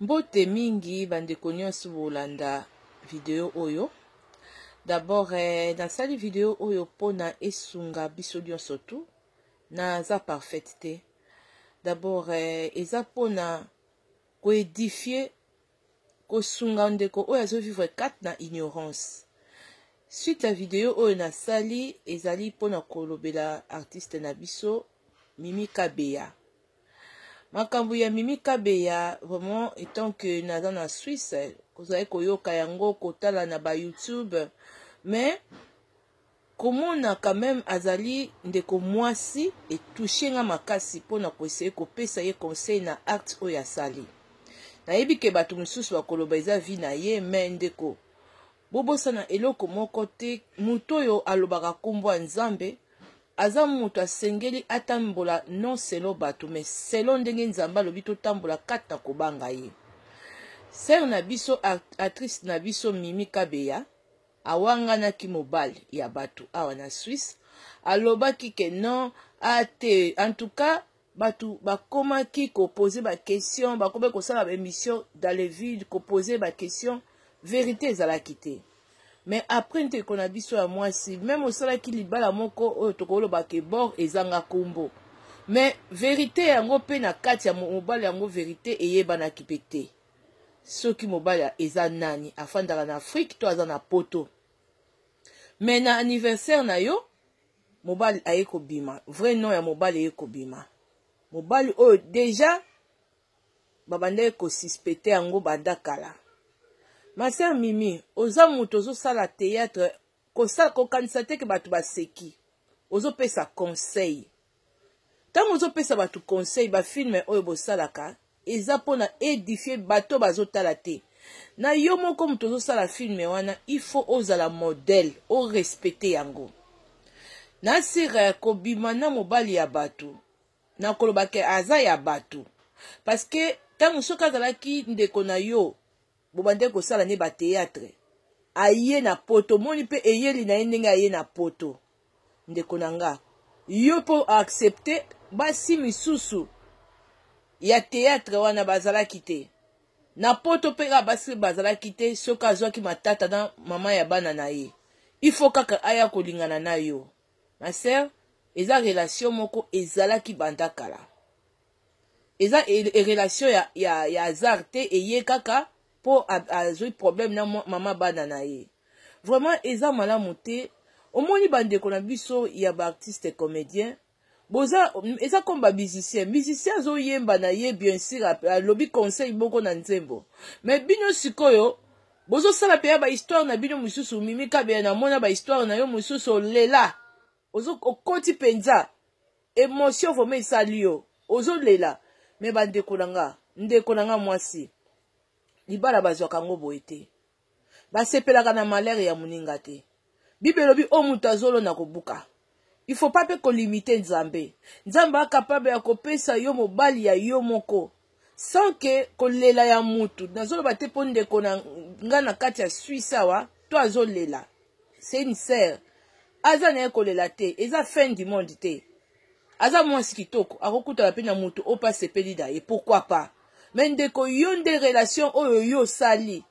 Mbote mingi bandeko nyonso bolanda video oyo. D'abord eh, nasali video oyo mpona esunga biso nyonso tu naza parfaite te. D'abord eh, eza mpona koedifie kosunga ndeko oyo azovivre kati na ignorance suite ya video oyo nasali ezali mpona kolobela artiste na biso mimi kabeya makambo ya mimi kabeya vraiment etant que naza na suisse kozali koyoka yango kotala na ba youtube mais komona quand même azali ndeko mwasi etouche nga makasi mpo na koeseye kopesa ye conseil na acte oyo asali nayebi ke bato mosusu bakoloba eza vi na ye mais ndeko Bobosana eloko moko te, moto oyo alobaka kombo ya Nzambe aza moto asengeli atambola non selon bato mais selon ndenge Nzambe alobi totambola kati na kobanga ye. Sœur na biso actrice na biso Mimi Kabeya awanganaki mobali ya bato awa na Suisse alobaki ke non ate en tout cas batu bakomaki ko poser ba question bakomaki kosala ba emission dans le vide ko poser ba question verite ezalaki te mais après ndeko na biso ya mwasi meme osalaki libala moko oyo tokoloba ke bor ezanga kombo mais verite yango mpe na kati ya mobali yango verite eyebanaki mpe te soki mobali eza nani afandaka na afrike to aza na poto mais na anniversaire na yo mobali aye kobima vrai nom ya mobali eye kobima mobali oyo deja babandaki kosuspecte yango banda kala maser mimi oza moto ozosala théâtre kokanisa te ke bato baseki ozopesa conseil ntango ozopesa bato conseil bafilme oyo bosalaka eza mpo na edifie bato bazotala te na yo moko moto ozosala filme wana ifo ozala modele orespecte yango na sire kobima na mobali ya bato na koloba ke aza ya bato paske ntango soki azalaki ndeko na yo bobandaki kosala nde bateatre aye na poto omoni mpe eyeli na ye ndenge aye na poto ndeko na nga yo mpo accepte basi misusu ya teatre wana bazalaki te na poto mpe kaka basi bazalaki te soki azwaki matata na mama ya bana na ye ifo kaka aya kolingana na yo ma sere eza relation moko ezalaki banda kala eza e, e relation ya, ya, ya hasard te eye kaka mpo azwi problème na mama bana na ye vraiment eza malamu te omoni bandeko na biso ya baartiste comédien boza eza comme bamusicien musicien azoyemba na ye bien sûr alobi conseil moko na nzembo mais bino sikoyo bozosala mpe ya bahistoire na bino mosusu mimi kabeya namona bahistoire na yo mosusu olela ozo okoti penza emotion vraiment esali yo ozolela me bandeko na nga ndeko na nga mwasi libala bazwaka yango boye te basepelaka na malere ya moninga te bible elobi oyo moto azolona kobuka il faut pas mpe kolimite nzambe nzambe akapable ya kopesa yo mobali ya yo moko sans ke kolela ya mutu nazoloba te mpo ndeko na nga na kati ya suisse awa to azolela se une sere aza na ye kolela te eza fin du monde te aza mwasi kitoko akokutana mpe na moto oyo mpe asepeli na ye pourkui pas me ndeko yo nde relation oyo yo osali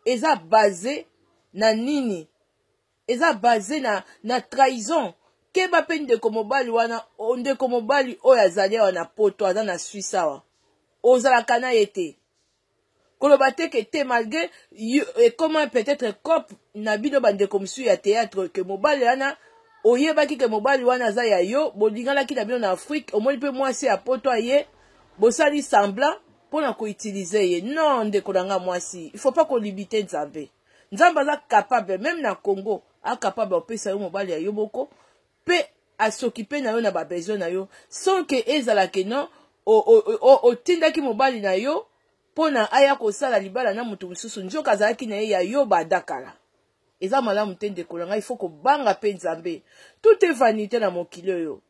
eza base na nini eza base na, na trahison keba mpe ndeko mobali wana ndeko mobali oyo azali awa na poto aza na swisse awa ozalaka na ye te koloba te ke te malgré ekoma peut-être cope na bino bandeko mosusu ya théâtre ke mobali wana oyebaki ke mobali wana aza ya yo bolinganaki na bino na afrique omoni mpe mwasi ya poto aye bosali semblant mpo na koutilize ye non ndeko na ngai mwasi il faut pas kolibite nzambe nzambe aza capable meme na congo acapable opesa yo mobali ya yo moko mpe asokipe na yo na babesoin na yo sans ke ezala ke non otindaki mobali na yo mpo na aya kosala libala na moto mosusu nzoka azalaki na ye ya yo badakala eza malamu te ndeko na ngai ifo kobanga mpe nzambe tout e vanité na mokili oyo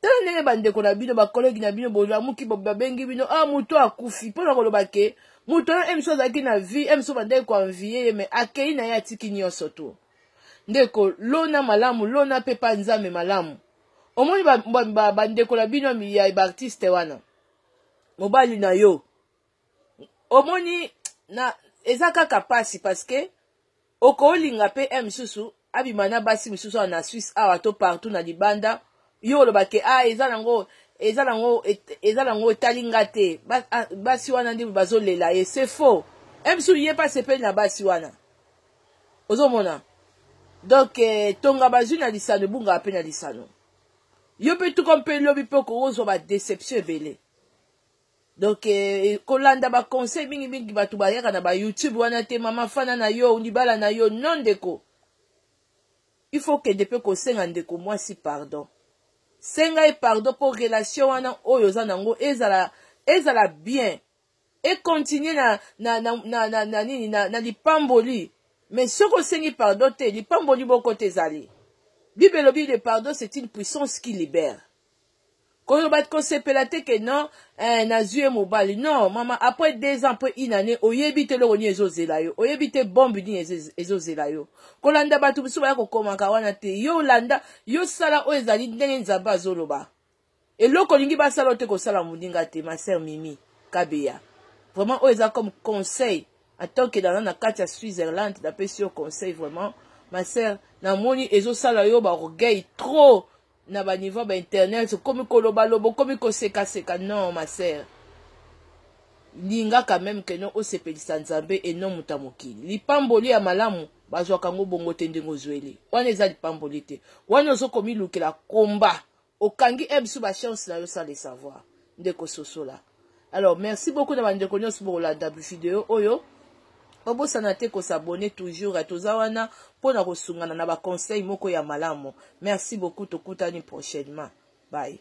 tala ndenge bandeko na bino bakolegi na bino bolamuki babengi bino a ah, moto akufi mpo na koloba ke moto wana emso azalaki na vie emso bandaki koanvie ye me akei na ye atiki nyonso to ndeko lona malamu lona mpe pa nzambe malamu omoni bandeko na bino ya baartiste wana mobali na yo omoni na eza kaka pasi parce que okolinga pe un misusu abima na basi misusu awa na Suisse awa to partout na libanda yo oloba ke ah eza nango eza nango eza nango etali nga te ah, basi wana nde bazolela ye c'est faux un misusu ye pe asepeli na basi wana ozomona donc eh, tonga bazwi na lisano ebungaka mpe na lisano yo mpe tuka mpe lobi mpe okozwa badeception ebele donc eh, kolanda baconseil mingimingi bato bayaka na bayoutube wana te mama fana na yo libala na yo non ndeko il faut kende mpe kosenga ndeko mwasi pardon senga ye pardon mpo relation wana oyo oza nango ezala ezala bien ekontinue na, na, na, na, na, na nini na, na lipamboli mais soki osengi pardon te lipamboli moko te ezali bible elobi le pardon c'est une puissance qui libère koloba kosepela te ke non eh, nazwi ye mobali non mama après deux ans après une année oyebi te eloko nini ezozela yo oyebi te bombe nini ezozela yo kolanda bato mosusu baya kokomaka wana te yo olanda yo sala oyo ezali ndenge nzambe azoloba eloko olingi basala oyo te kosala moninga te ma sœur mimi kabeya vraiment oyo eza comme conseil en tant que dans na kati ya switzerland napesi yo conseil vraiment ma sœur namoni ezosala yo baorgueil trop na ba niveau ba internet okomi koloba lobo okomi koseka seka non ma sœur lingaka meme ke no osepelisa nzambe e non moto ya mokili lipamboli ya malamu bazwaka yango bongo te ndenge ozweli wana eza lipamboli te wana ozo komilukela komba okangi ebsu bachance na yo sans le savoir ndeko sosola alors merci beaucoup na bandeko nyonso bokolanda video oyo obosana te kosabone toujours toza wana mpo na kosungana na baconseil moko ya malamu merci beaucoup tokutani prochainement bye